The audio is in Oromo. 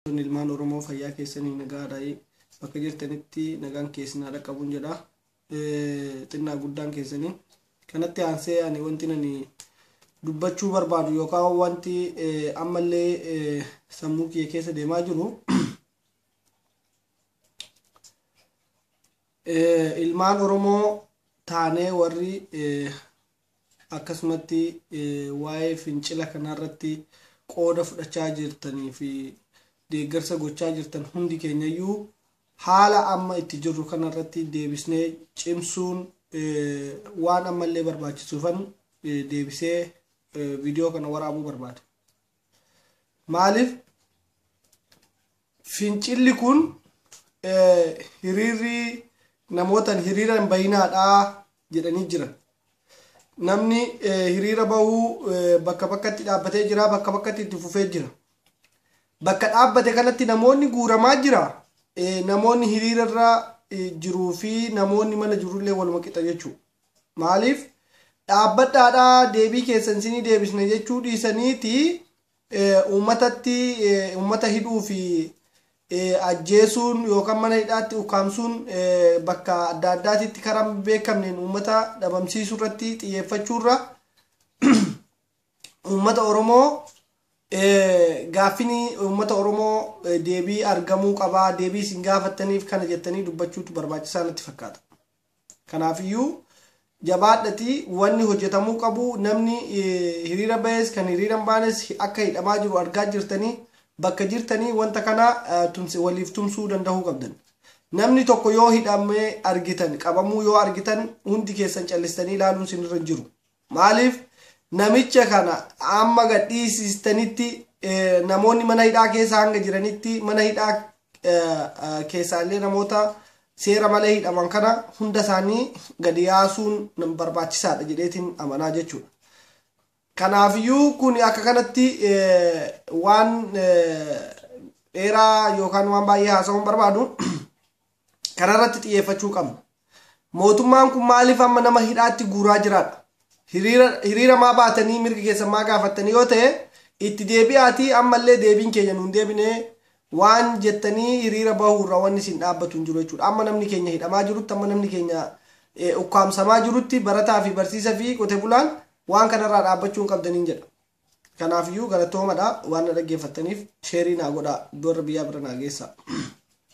Obboloonni ilmaan Oromoo fayyaa keessanii nagaadhaayi. Bakka jirtanitti nagaan kee isin haa dhaqqabuun jedha. Xinnaa guddaan keessanii. Kanatti aansee ani wanti ani dubbachuu barbaadu yookaan wanti ammallee sammuu kiyya keessa deemaa jiru ilmaan Oromoo taanee warri akkasumatti waa'ee fincila kanarratti qooda fudhachaa jirtanii fi deeggarsa gochaa jirtan hundi keenyayyuu haala amma itti jirru kanarratti deebisnee cimsuun waan ammallee barbaachisuufan deebisee viidiyoo kana waraabuu barbaada. maaliif fincilli kun hiriirri namootan hiriira hin bayinaadha jedhanii jiran namni hiriira bahuu bakka bakkatti dhaabbatee jira bakka bakkatti itti fufee jira bakka dhaabbate kanatti namoonni guuramaa jira namoonni hiriirarra jiruu fi namoonni mana jirullee waluma qixa jechuudha. Maaliif dhaabbadhaadhaa deebii keessan isinii deebisna jechuu dhiisaniiti uummatatti uummata hidhuu fi ajjeesuun yookaan mana hidhaatti ukkaamsuun bakka adda addaatitti karaa beekamneen uummata dhabamsiisuu irratti xiyyeeffachuurra uummata Oromoo gaaffiin uummata Oromoo deebii argamuu qabaa deebii isin gaafattaniif kana jettanii dubbachuutu barbaachisaa natti fakkaata. Kanaafiyyuu jabaadhatii wanni hojjetamuu qabu namni hiriira bahes kan hiriira hin baanes akka hidhamaa jiru argaa jirtanii bakka jirtanii wanta kana waliif tumsuu dandahuu qabdan. Namni tokko yoo hidhamee argitan qabamuu yoo argitan hundi keessan callistanii ilaaluun sinirra hin jiru. Maaliif namicha kana amma gad dhiisistanitti namoonni mana hidhaa keessa hanga jiranitti mana hidhaa keessaa illee namoota seera malee hidhaman kana hunda isaanii gadi yaasuun barbaachisaadha jedheetiin amanaa jechuudha. Kanaafiyyuu kun akka kanatti waan dheeraa yookaan waan baay'ee haasa'uun barbaadu kanarratti xiyyeeffachuu qabna. Mootummaan kun maaliif amma nama hidhaatti guuraa jiraadha? Hiriira maa baatanii mirga keessan maa gaafattanii yoo ta'e itti deebi'aatii ammallee deebiin keenya nuun deebinee waan jettanii hiriira bahuurra wanni isin dhaabbatu hin jiru jechuudha. Amma namni keenya hidhamaa jirutti amma namni keenya ukkaamsamaa jirutti barataa fi barsiisa fi qote bulaan waan kanarraa dhaabbachuu hin qabdaniin jedha. Kanaafiyyuu galatoomadha waan na dhaggeeffattaniif sheerii naa godhaa iddoo irra biyyaa bira naa geessaa.